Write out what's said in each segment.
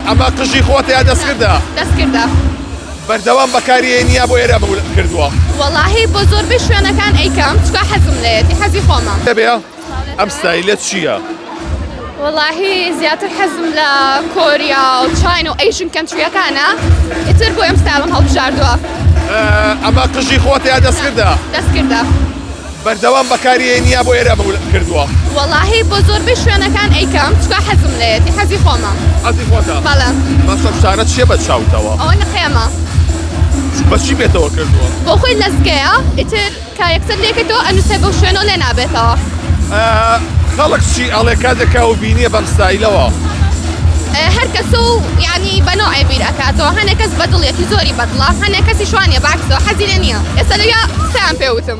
ئەمە قژی خۆتە یا دەستکردە؟ دەستکردە. بەردەوام بەکاری هێنی یا بۆ ئێرە کردووە؟ وەڵاهی بۆ زۆربەی شوێنەکان ئەیکەم چکا حەزم لێتی حەزی خۆمە. دەبێ ئەم ستایلە چییە؟ وەڵاهی زیاتر حەزم لە کۆریا و چاین و ئەیشن کەنتریەکانە ئیتر بۆ ئەم ستایلم هەڵبژاردووە. ئەمە قژی خۆتە یا دەستکردە؟ دەستکردە. بەردەوام بەکاری ئەینیا بۆ ئێرە بوو کردووە. وەڵاهی بۆ زۆربەی شوێنەکان ئەیکەم چکا حەزم لێتی حەزی خۆمە حەزی خۆتە بەڵێ بەسە فشارەت چیە بە چاوتەوە ئەوە نقێمە بەچی بێتەوە کردووە بۆ خۆی لەزگەیە ئیتر کا یەکتر لێکەوە ئەنووسێ بۆ شوێنەوە لێ نابێتەوە خەڵک چی ئەڵێ کاتێکا و بینیە بەم ستایلەوە هەر کەس و ینی بەنەوە ئەبیر ئەکاتەوە هەنێک کەس بەدڵێتی زۆری بەدڵە هەنێک کەسی شوانە باکسەوە حەزیرە نییە ئێستا لەیا قسەیان پێوتم.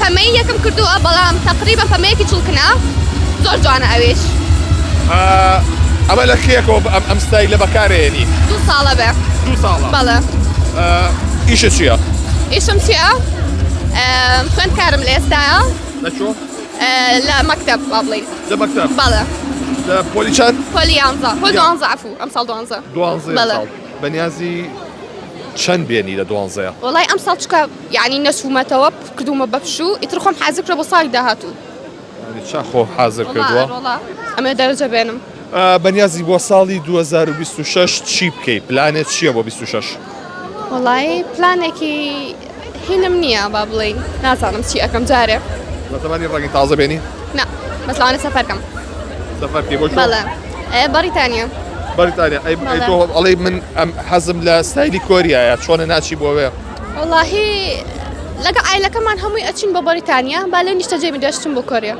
پەمەیی یەکم کردووە بەڵام تەقریبەن پەمەیەکی چڵکنە زۆر جوانە ئەویش. ئەمە لە کێیەکەوە ئەم ستایلە بەکارەیەنی؟ دوو ساڵە بێ دوو ساڵە بەڵێ. ئیشت چییە؟ ئیشم چییە؟ خوێندکارم لە ئێستایا. لە کوێ؟ لە مەکتەب با بڵێین. لە مەکتەب؟ بەڵێ. لە پۆلی چەند؟ پۆلی یانزە پۆلی دوانزە عەفوو ئەمساڵ دوانزە. دوانزەیە؟ بەڵێ. ساڵ بەنیازی چەند بێنی لە دوانزەیا؟ وەڵای ئەمساڵ چکە یانی نەچوومەتەوە کردوومە بە پشوو ئیتر خۆم حازر کرە بۆ ساڵی داهاتوو چا خۆ حازر کردووە ئەمە دەرجە بێنم بەنیازی بۆ ساڵی 2026 چی بکەی پلانێت چییە بۆ 26 وڵی پلانێکی هینم نییە با بڵێ نازانم چی ئەەکەم جارێ بەتەمانی ڕەنگی تازە بێنی نا بەسانە سەفەرکەم سەفەرکی بۆ بەریتانیا بەریتانیا ئەڵی من ئەم حەزم لە ستایلی کۆریایە چۆنە ناچی بۆوێ وەڵاهی لەگەڵ عایلەکەمان هەمووی ئەچین بۆ بەریتانیا با لێ نیشتەجێ بین دەشتم بۆ کۆریا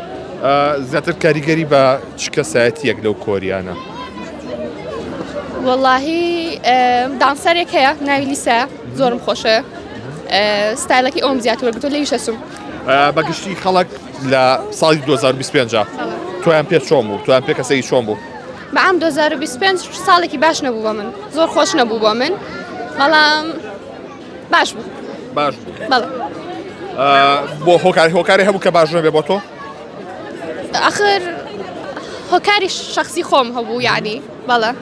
زیاتر کاریگەری بە چ کەسایەتیەک لەو کۆریانە وەڵاهی دانسەرێک هەیە ناوی لیسا زۆرم خۆشە ستایلەکەی ئەوم زیاتر وەرگتۆ لەوی شەسم بەگشتی خەڵک لە ساڵی 2025 تویان پێ چۆم و تویان پێ کەسەی چۆم بوو بە عام دۆ زار و بیست و پێنج ساڵێکی باش نەبوو بۆ من زۆر خۆش نەبوو بۆ من بەڵام باش بوو باش بوو بەڵێ آه، بۆ هۆکاری هۆکاری هەبوو کە باش نەبێ بۆ تۆ ئاخر هۆکاری شخصی خۆم هەبوو یعنی بەڵێ